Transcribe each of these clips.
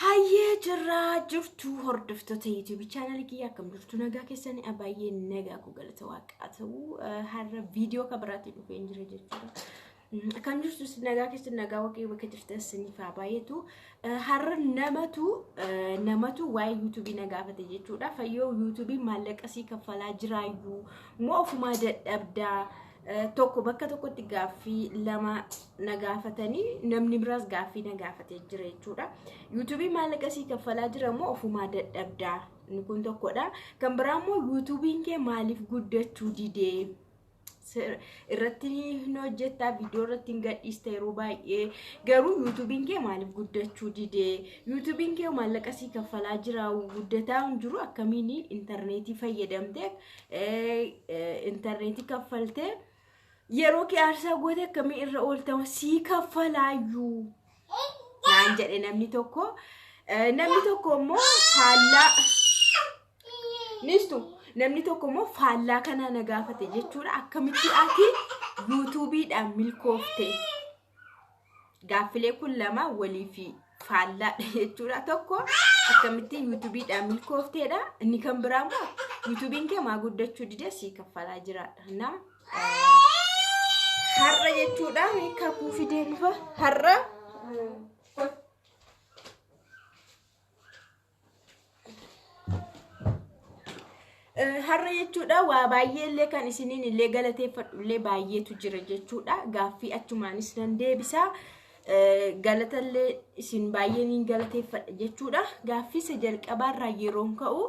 Hayyee jirraa jirtuu hordoftoota YouTube channel kiyya akkam jirtu nagaa keessanii baay'ee nagaa koo galata waaqaa ta'u har'a viidiyoo kan biraatiin dhufee hin jira jechuudha. Akkam jirtu isin nagaa keessan nagaa waaqayyo bakka jirtan isiniif haa baay'atu. Har'a namatu namatu waa'ee YouTube na gaafate jechuudha. Fayyoo YouTube maallaqa sii kaffalaa jiraayyuu moo ofumaa dadhabdaa tokko bakka tokkotti gaaffii lama na gaafatanii namni biraas gaaffii na gaafatee jira jechuudha. Yuutuubii maallaqa sii kaffalaa jira moo ofumaa dadhabdaa inni kun tokkodha. Kan biraa immoo yuutuubiin kee maaliif guddachuu didee irratti hin hojjettaa viidiyoo irratti hin gadhiista yeroo baay'ee garuu yuutuubiin kee maaliif guddachuu didee yuutuubiin kee maallaqa sii kaffalaa jira guddataa hin jiru akkamiin intarneetii fayyadamtee intarneetii kaffaltee. Yeroo kee aarsaa goote akkamii irra ooltama sii kaffalaayyuu naan jedhe namni tokko. Eh, Namni tokko immoo faallaa nistu namni tokko immoo faallaa kanaa na gaafate jechuudha akkamitti ati yuutuubiidhaan milkoofte gaaffilee kun lama walii fi faallaadha jechuudha tokko akkamittiin yuutubiidhaan milkoofteedha inni kan biraa immoo yuutubiin kee maa guddachuu didee sii kaffalaa jiraadha na har'a jechuudha kakuu fidee dhufa har'a Har'a jechuudha waa baay'ee illee kan isiniin illee galateeffadhu illee baay'eetu jira jechuudha. Gaaffii achumaanis nan deebisa. Galata illee isin baay'ee niin galateeffadha jechuudha. Gaaffii isa jalqabaarraa yeroon ka'u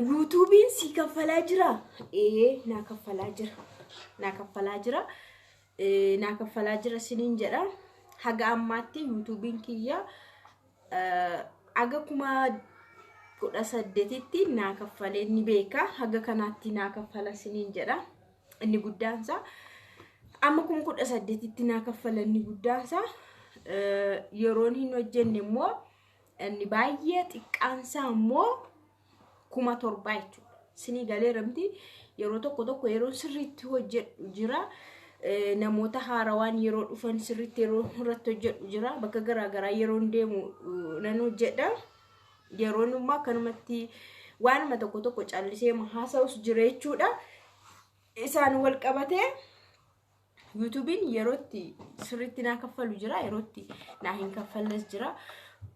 yuutuubiin sii kaffalaa jira. Ee naa kaffalaa jira. Naa kaffalaa jira. Naa kaffalaa jira isiniin jedha. Haga ammaatti yuutuubiin kiyya. Haga kuma kudha saddetitti naa kaffalee ni beeka. Haga kanaatti naa kaffala siniin jedha. Inni guddaansaa amma kuma kudha saddetitti naa kaffala inni guddaansaa yeroon hin hojjenne immoo inni baay'ee xiqqaansaa immoo kuma torbaa jechuudha. Sinii galee ramti yeroo tokko tokko yeroo sirriitti hojjedhu jira. Eh, Namoota haarawaan yeroo dhufan sirriitti yeroo irratti hojjedhu jira. Bakka garaagaraa yeroo deemu eh, nan hojjedha. Yeroon immoo akkanumatti waanuma tokko tokko callisee haasa'us jira jechuudha. Isaan wal qabatee Yuutuubiin yerootti sirriitti naa kaffalu jira yerootti naa hin kaffalles jira.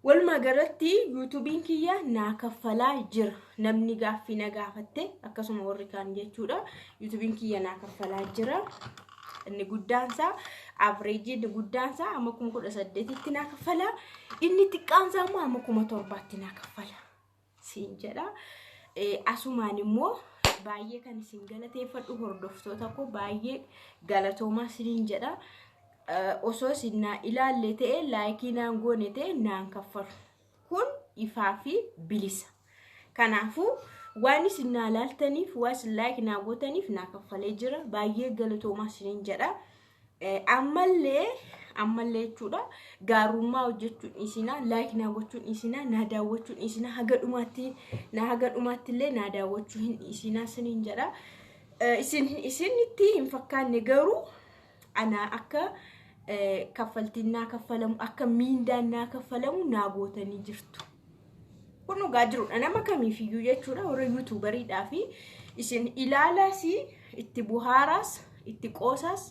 Walumaa galatti yuutuubiin kiyya naa kaffalaa jira. Namni gaaffii na gaafatte akkasuma warri kaan jechuudha. Yuutuubiin kiyya naa kaffalaa jira. Inni guddaansaa avreejii inni guddaansaa amma kuma kudha saddeetitti naa kaffala. Inni xiqqaansaa immoo amma kuma torbaatti naa kaffala. siin jedha. Asumaan immoo baay'ee kan isin galateeffadhu hordoftoota koo baay'ee galatoomaa siniin jedha. Osoo isin naa ilaalle ta'e laayikii naan goone ta'e naan kaffalu. Kun ifaa fi bilisa. Kanaafuu waan isin naa laaltaniif waan isin laayik naa gootaniif naa kaffalee jira. Baay'ee galatoomaa siniin jedha. ammallee ammallee jechuudha gaarummaa hojjechuun isinaa laayik naa gochuun isinaa naa daawwachuun isinaa haga dhumaatti naa haga dhumaatti illee naa daawwachuu hin isinaa siniin jedha isin isinitti hin fakkaanne garuu anaa akka kaffaltiin naa kaffalamu akka miindaan naa kaffalamu naa gootanii jirtu. kun dhugaa jirudha nama kamiifiyyuu jechuudha warra yuutuubariidhaa fi isin ilaalaas itti buhaaraas itti qoosaas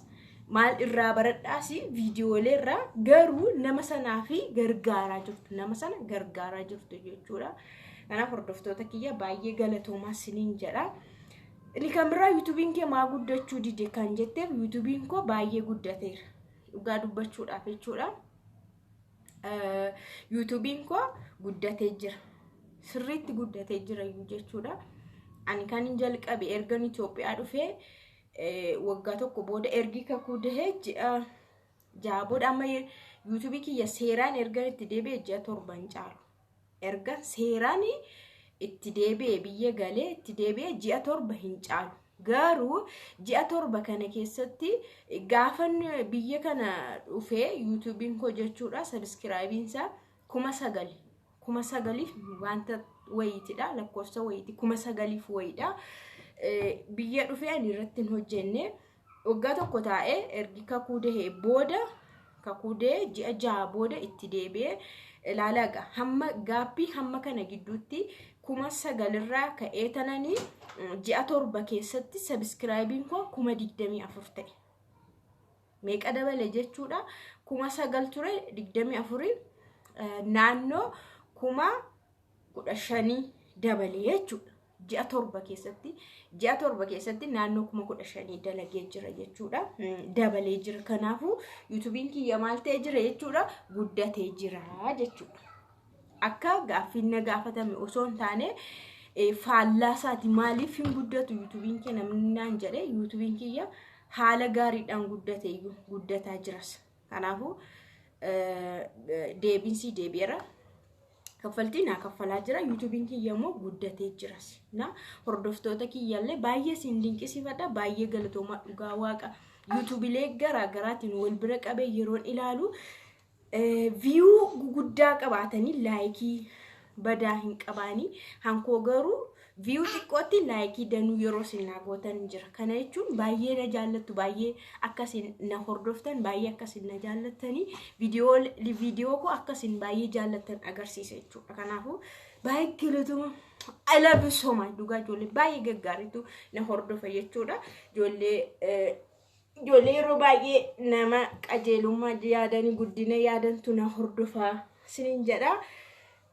maal irraa baradhaas viidiyoolee irraa garuu nama sanaa fi gargaaraa jirtu nama sana gargaaraa jirtu jechuudha kanaaf hordoftoota kiyya baay'ee galatoomaa siniin jedha. Inni kan biraa yuutuubiin kee maa guddachuu dide kan jetteef yuutuubiin koo baay'ee guddateera dhugaa dubbachuudhaaf jechuudha. yuutuubiin koo guddatee jira sirriitti guddatee jira iyyuu jechuudha ani kan hin jalqabe ergan Itoophiyaa dhufee waggaa tokko booda ergi kakuu dahee ji'a ja'a booda amma yuutuubii kiyya seeraan ergan itti deebi'e ji'a torban caalu erga seeraan itti deebi'e biyya galee itti deebi'e ji'a torba hin caalu. Garuu ji'a torba kana keessatti gaafan biyya kana dhufee yuutuubiin koo jechuudha sabiskiraayibiin isaa kuma sagali. Kuma sagaliif wanta wayiitidha lakkoofsa wayiiti kuma sagaliif wayiidha. Biyya dhufee ani irratti hin hojjenne waggaa tokko taa'ee ergi kakuu dahee booda kakuu dahee ji'a jaha booda itti deebi'ee ilaalaa egaa hamma gaappii hamma kana gidduutti kuma sagalirraa ka'ee tananii mm, ji'a torba keessatti sabiskiraayibiin koo kuma digdamii afur ta'e. Meeqa dabale jechuudha kuma sagal ture digdamii afuriin eh, naannoo kuma kudha shanii dabalee jechuudha. Ji'a torba keessatti ji'a torba keessatti naannoo kuma kudha shanii dalagee jira jechuudha. Dabalee jira. Kanaafuu yuutubiin kiyya maal ta'ee jira jechuudha guddatee jira jechuudha. Akka gaaffiin na gaafatame osoo hin taane faallaa isaati maaliif hin guddatu yuutubiin kiyya namni naan jedhe yuutubiin kiyya haala gaariidhaan guddate iyyuu guddataa jiras. Kanaafuu deebiinsii deebi'eera. kaffaltii naa kaffalaa jira yuutuubiin kiyya immoo guddatee jiras na hordoftoota kiyyallee baay'ee siin dinqisiifadha baay'ee galatoomaa dhugaa waaqa yuutuubilee garaa garaatiin wal bira qabee yeroon ilaalu viyuu guguddaa qabaatanii laayikii badaa hin qabaanii hankoo garuu Viyuu xiqqootti laayikii danuu yeroo isin naa gootan jira. Kana jechuun baay'ee na jaallattu, baay'ee akka isin na hordoftan, baay'ee akka isin na jaallattanii viidiyoo viidiyoo koo akka isin baay'ee jaallattan agarsiisa jechuudha. Kanaafuu baay'ee galatoomaa. I love you so much. Dhugaa ijoollee baay'ee gaggaariitu na hordofa jechuudha. Ijoollee eh, Ijoollee yeroo baay'ee nama qajeelummaa yaadan guddina yaadantu na hordofaa sinin jedha.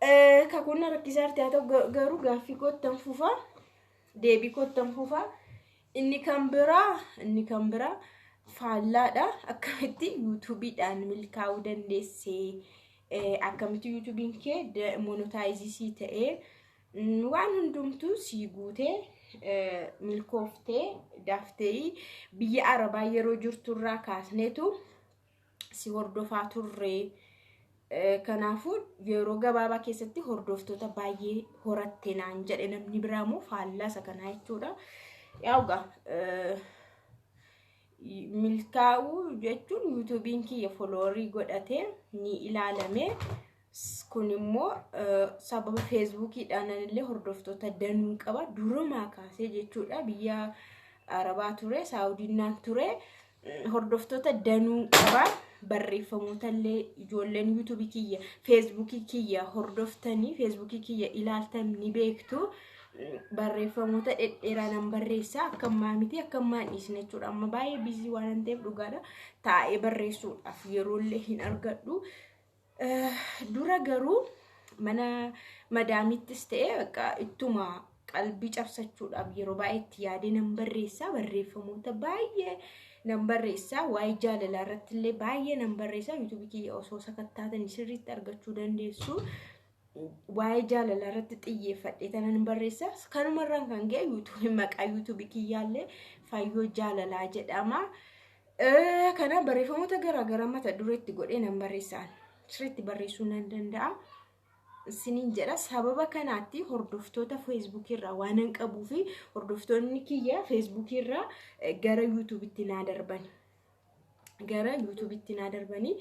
Eh, Kakuun na rakkisaa jirti haa ta'u ga- garuu gaaffii koottan fufa deebii koottan fufa inni kan biraa inni kan biraa faallaadha akkamitti yuutuubiidhaan milkaa'uu dandeessee eh, akkamitti yuutuubiin kee monotaayiziisii ta'ee Waan hundumtuu sii guutee milkooftee daftee biyya arabaa yeroo jirturraa kaasneetu si hordofaa turre. Kanaafuu yeroo gabaabaa keessatti hordoftoota baay'ee horatte naan jedhe namni biraa immoo faallaa isa kanaa jechuudha. Yaa'uga milkaa'uu jechuun yuutuubiin kiyya foloorii godhatee ni ilaalamee. kun immoo sababa feesbuukiidhaan illee hordoftoota danuun qaba durumaa kaasee jechuudha biyya arabaa ture saawudinnaan ture hordoftoota danuun qaba barreeffamoota illee ijoolleen yuutuubii kiyya feesbuukii kiyya hordoftanii feesbuukii kiyya ilaaltan ni beektu barreeffamoota dhedheeraa nan barreessa akka ammaa miti akka ammaa hin dhiisne jechuudha amma baay'ee biizii waan ta'eef dhugaadha taa'ee barreessuudhaaf yeroollee hin argadhu. Dura garuu mana madaamittis ta'e bakka ittuma qalbii cabsachuudhaaf yeroo baay'ee itti yaadee nan barreessaa barreeffamoota baay'ee nan barreessaa waa'ee jaalalaa irratti illee baay'ee nan barreessaa yuutuubii kiyya osoo sakattaatanii sirriitti argachuu dandeessu. waa'ee jaalalaa irratti xiyyeeffadhee tanan barreessa. Kanuma irraan kan ga'e yuutuubii maqaa yuutuubii kiyyaallee fayyoo jaalalaa jedhama. Kana barreeffamoota garaagaraa mata dureetti godhee nan barreessaan sirriitti barreessuu nan danda'a. Isiniin jedha sababa kanaatti hordoftoota feesbuukii irraa waan hin qabuu fi hordoftoonni kiyya feesbuukii irraa gara yuutuubitti naa darbani. gara yuutuubitti naa darbanii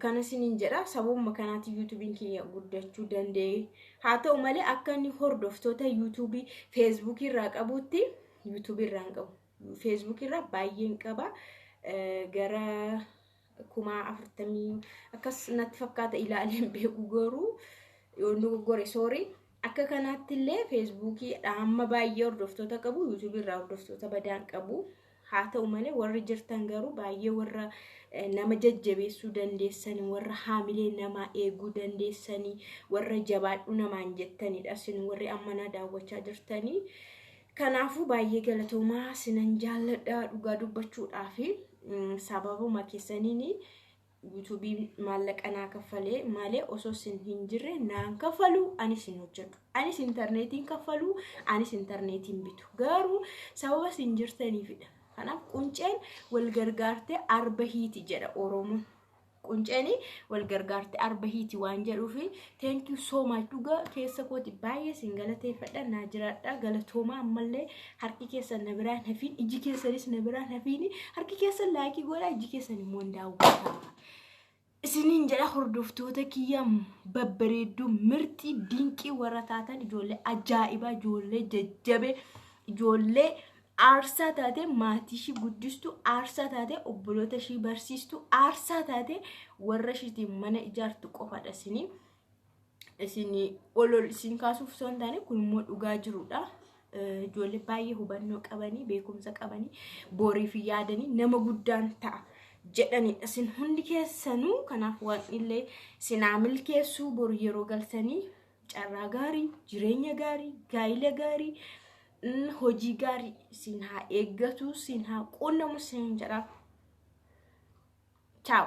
kana sinin jedha sababuma kanaatiin yuutuubiin kiyya guddachuu danda'e haa ta'u malee akka inni hordoftoota yuutuubii feesbuukii irraa qabutti yuutuubii irraa hin qabu feesbuukii irraa baay'een qaba gara kuma afurtamii akkas natti fakkaata ilaaleen beeku garuu yoo dogoggore soorii Akka kanaatti illee feesbuukii dhaamma baay'ee hordoftoota qabu yuutuubii irraa hordoftoota badaan qabu haa ta'u malee warri jirtan garuu baay'ee warra nama jajjabeessuu dandeessanii warra haamilee namaa eeguu dandeessanii warra jabaadhuu namaan jettanidha isin warri ammanaa daawwachaa jirtanii kanaafuu baay'ee galatoomaa sinan jaalladha dhugaa dubbachuudhaafi sababuma keessaniin YouTube maallaqa naa kaffalee malee osoo sin hin jirre naan kaffaluu anis hin hojjedhu. Anis intarneetiin kaffaluu anis intarneetiin bitu. Garuu sababa sin jirtaniifidha. Kanaaf qunceen wal gargaartee arba hiiti jedha Oromoon. Qunceen wal gargaartee arba hiiti waan jedhuufi thank you so much dhugaa keessa kooti baay'ee sin galateeffadha naa jiraadha galatoomaa ammallee harki keessan na biraan hafiin iji keessanis na biraan hafiin harki keessan laayikii godhaa iji keessan immoo hin daawwataa. Isiniin jedha hordoftoota kiyya babbareedduu mirxii dinqii warra taatan ijoollee ajaa'ibaa ijoollee jajjabee ijoollee aarsaa taate maatii ishii guddistu aarsaa taate obboloota ishii barsiistu aarsaa taate warra ishiitiin mana ijaartu qofadha isiniin. isin ol ol isin kaasuuf osoo hin taane kun immoo dhugaa jirudha. Ijoollee baay'ee hubannoo qabanii beekumsa qabanii booriif yaadanii nama guddaan ta'a jedhanidha. Isin hundi keessanuu kanaaf waaqnillee sinaa milkeessuu bor yeroo galtanii carraa gaarii, jireenya gaarii, gaa'ila gaarii, hojii gaarii isin haa eeggatu, isin haa quunnamu isin jedha. Ciao.